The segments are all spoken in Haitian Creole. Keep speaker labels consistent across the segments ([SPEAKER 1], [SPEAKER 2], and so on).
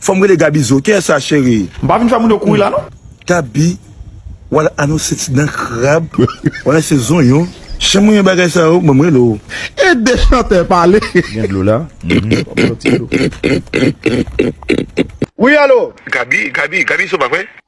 [SPEAKER 1] Fòm rele Gaby zo knsa cheri. M pa vin fè moun yo kouri la
[SPEAKER 2] non. Gaby
[SPEAKER 1] wal anonse ti dan krab ou anonse zonyon chan mwen yon bagay sa yo banm rele w. Ede chantè
[SPEAKER 2] pale. Gen dlo la
[SPEAKER 1] humm
[SPEAKER 3] wap fè yon ti dlo. Wi alo. Gaby Gaby Gaby zo
[SPEAKER 1] pa vre.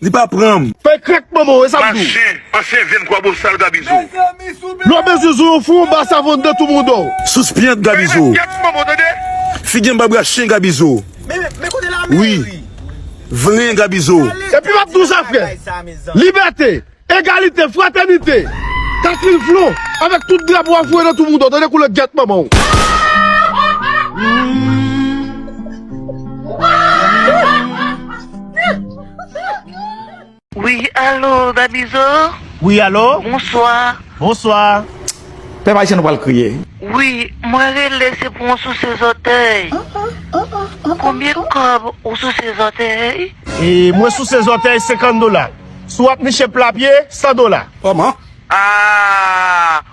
[SPEAKER 1] Li pa pranm. Fèy krèk manman w e
[SPEAKER 3] sa m di w. Machin, ansyen vyen
[SPEAKER 4] kwabosal Gaby zo. Lwa
[SPEAKER 3] mezi zo yon fou anba savon de tou mouda w. Sous pyent Gaby zo.
[SPEAKER 1] Fèy rakyèt manman w tande.
[SPEAKER 4] Figi anba bra
[SPEAKER 1] chen Gaby zo.
[SPEAKER 5] Wi.
[SPEAKER 1] Vlen Gaby zo. Epi m ap di w sa
[SPEAKER 3] frè. Libète, egalite, fratènite. Katril flon avèk tout drapo a foure nan tou mouda w tande koulè gyèt manman w.
[SPEAKER 6] Wi alo Damizo. Wi alo.
[SPEAKER 3] Bonswa.
[SPEAKER 6] Bonswa.
[SPEAKER 3] Pèp ayisyen
[SPEAKER 2] nou pral kriye. Wi mwen
[SPEAKER 6] rele se pou yon souse zòtèy konbyen kòb ou souse zòtèy. Mwen souse
[SPEAKER 3] zòtèy 50 dola. Si wap niche pla pye 100 dola. Kòman.
[SPEAKER 2] Aah